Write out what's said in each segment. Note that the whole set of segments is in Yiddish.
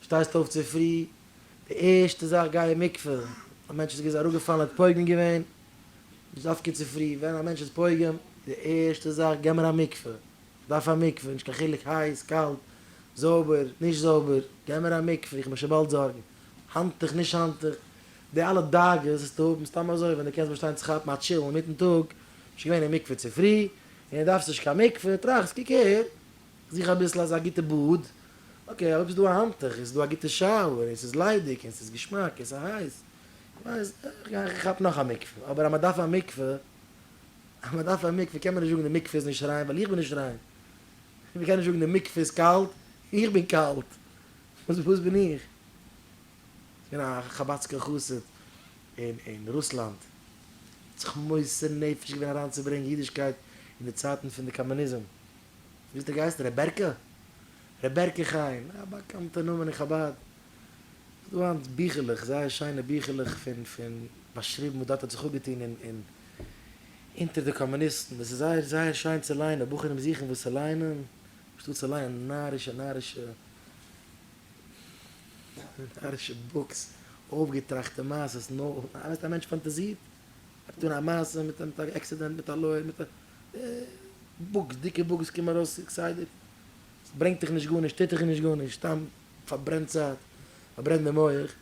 שטייסט אויף צופרי, די ערשטע זאך גיי אין מקווה, א מענטש איז געווען איז אראפגעפאלן ער האט פוגם געווען, דאס איז דווקא צופרי, ווען א מענטש איז פוגם, די ערשטע זאך גיי מיר א מקווה, איך דארף א מקווה, נישט קיין חילוק הייס, קאלט, זויבער, נישט זויבער, גיי מיר א מקווה, איך מיך שוין באלד זארגן, האנטוך, נישט האנטוך, די אלע דאגות וואס טו האבן סתם אזוי ווען דו קענסט באשטיין צו כאפן א טשיל אינמיטן טאג, ביסט שוין געווען אין מקווה צופרי, און דארפסט נישט קיין מקווה, טראכסט קוק אהער. זיך אביסל אזא גוטע באד, אקעי אויב איז דא א האנטוך, איז דא א גוטע שאוער, און ס'איז ליידיג, און ס'איז געשמאק, און ס'איז הייס, כ'ווייס, איך כאפ נאך א מקווה, אבער אז מ'דארף א מקווה, אז מ'דארף א מקווה קען מען נישט זאגן די מקווה איז נישט ריין ווייל איך בין נישט ריין, און מ'קען נישט זאגן די מקווה איז קאלט, איך בין קאלט, וואס בין איך? ס'געווען א חבד'סקער חסיד אין רוסלאנד, האט זיך מוסר נפש געווען אריינצוברענגן אידישקייט אין די צייטן פון די קאמוניזם, וויאזוי די גייסט? רעבעקע? רעבעקע חיים, א באקאנטע נאמען אין חבד. ס'איז דא היינט ביכלעך, זייער שיינע ביכלעך פון פון באשריבן וואס דארט האט זיך אפגעטון אין אין אונטער די קאמוניסטן, דאס איז זייער זייער שיין צו ליינען, בחורים זוכן וואס צו ליינען, אנשטאט צו ליינען נארישע נארישע נארישע בוקס, אויפגעטראכטע מעשות, נאו, א מענטש פאנטאזירט, ער האט געטון א מעשה מיט א מיט א עקסידענט מיט א לויער מיט א. בוקס, דיקע בוקס קומען ארויס כסדר, סברענגט דיך נישט גארנישט, טוט דיך נישט גארנישט, סתם פארברענט צייט, פארברענט די מח,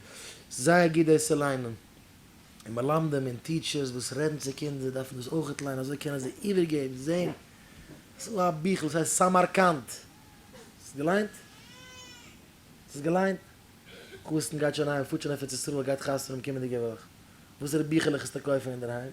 זייער גוט דאס צו ליינען, און מלמדים און טיטשערס וואס רעדן צו קינדער דארפן דאס אויכעט ליינען אזוי קענען זיי איבערגעבן, זען, עס איז דא א ביכל וואס הייסט סאמארקאנד, האסט עס געליינט? האסט עס געליינט? קארסטן גייט שוין אהיים, פארט שוין אויף ארץ ישראל, גייט חתונה האבן קומענדיגע וואך, וואסערע ביכלעך איז צו קויפן אינדערהיים?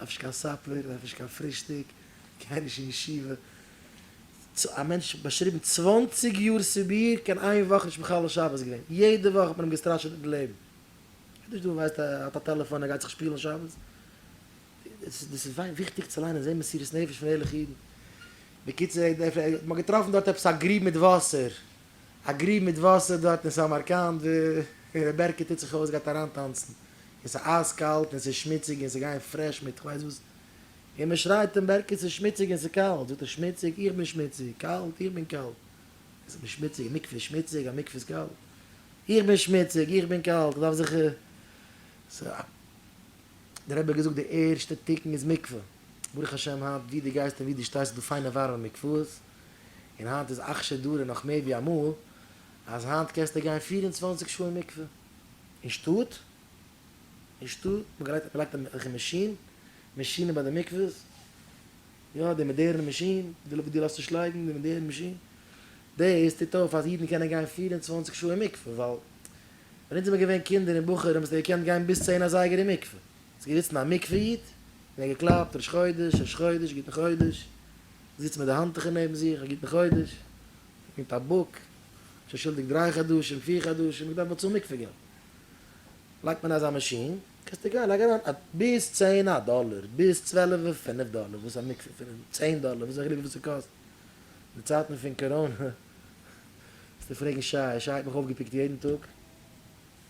נאך נישט קיין סאפער, נאך נישט קיין פרישטאג, גיי נישט אין ישיבה. א מענטש באשריבן צוואנציג יאר סיביר, קיין איין וואך נישט מחלל שבת געווען, יעדע וואך האט מען אים געסטראשעט מיטן לעבן. ער נישט דא ווייסט ער האט א טעלעפאן ער גייט זיך שפילן שבת. דאס איז וויכטיג צו ליינען זעהן מסירות נפש פון ערליכע אידן. בקיצור מען האט געטראפן דארט עפעס א גריב מיט וואסער. א גריב מיט וואסער דארט אין סאמארקאנד ווי ר' בערקע טוט זיך אויס גייט אריינטאנצן און ס'איז אייז קאלט און ס'איז שמוציג און ס'גייען פרעש מיט כ'ווייס וואס און מ'שרייט אים בערקע ס'איז שמוציג און ס'איז קאלט זאגט ער שמוציג איך בין שמוציג קאלט איך בין קאלט איך בין שמוציג א מקווה איז שמוציג א מקווה איז קאלט איך בין שמוציג איך בין קאלט כ'דארף זיך ס'איז א דער רבי האט געזאגט די ערשטע תיקון איז מקווה ברוך השם היינט ווי דו גייסט און ווי דו שטייסט איז דא פיינע ווארעמע מקוואות און היינט איז אכשר דרא נאך מער ווי אמאל, אז היינט קענסטו גיין פֿיר און צוואַנציק שעה אין מקווה, אין שטאט, אין שטאט, מ'גרייט מ'לייגט אזעלכע מאשין, מאשינען ביי די מקווה'ס, יא די מאדערן מאשין, די וואס דו לאזט נישט לייגן, די מאדערן מאשין, דאס טוט אויף אז אידן קענען גיין פֿיר און צוואַנציק שעה אין מקווה, ווייל ווען אונז זעמער געווען קינדער און בחורים האסטו געקענט גיין ביז צען אזייגער אין מקווה. ס'איז געזיצן א מקווה איד און ער האט געקלאפט ראש חודש, ראש חודש, גוטן חודש, זיצט מיט די האנטוכער נעבן זיך, א גוטן חודש, מיט א בוק, שוין שולדיג דריי חדשים, פיר חדשים, איך דארף באצאלן מקווה געלט. לייגט מען אזא מאשין, קענסטו גיין, לייג אריין א, ביז צען א דאלער, ביז צוועלף און פינף דאלער, וואס א מקווה פון צען דאלער, וואס איז א חילוק וויפיל ס'קאסט? אין די צייטן פון קאראנע, וועסטו פרעגן שי, שי האט מיך אויפגעפיקט יעדן טאג.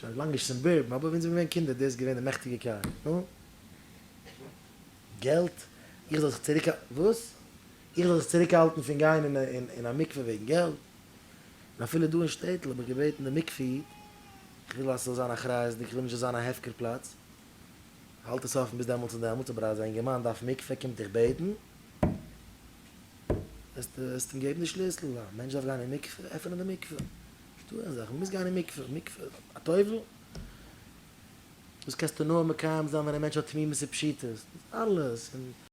שוין לאנג נישט סומבורבן אבער ווען זעמיר געווען קינדער דאס געווען די מעכטיגע קאר נו געלט איך זאל זיך צוריק וואס? איך זאל זיך צוריק האלטן פון גיין אין אין א מקווה וועגן געלט? און אפילו דא אין שטעטל האב איך געבעטן די מקווה איד איך וויל אז ס'זאל זיין אחריות'דיג איך וויל נישט ס'זאל זיין א הפקר פלאץ האלט עס אפן ביז דעמאלטס און דעמאלטס אבער אז א אינגערמאן דארף מקווה קומט דיך בעטן וועסטו וועסטו אים געבן די שליסל א מענטש דארף גיין אין מקווה עפענען די מקווה. שטויען אזאך, מען מוז גיין אין מקווה, מקווה א טובל? דאס קענסטו נאר מקיים זיין ווען א מענטש האט תמימות ופשיטות, אלעס און.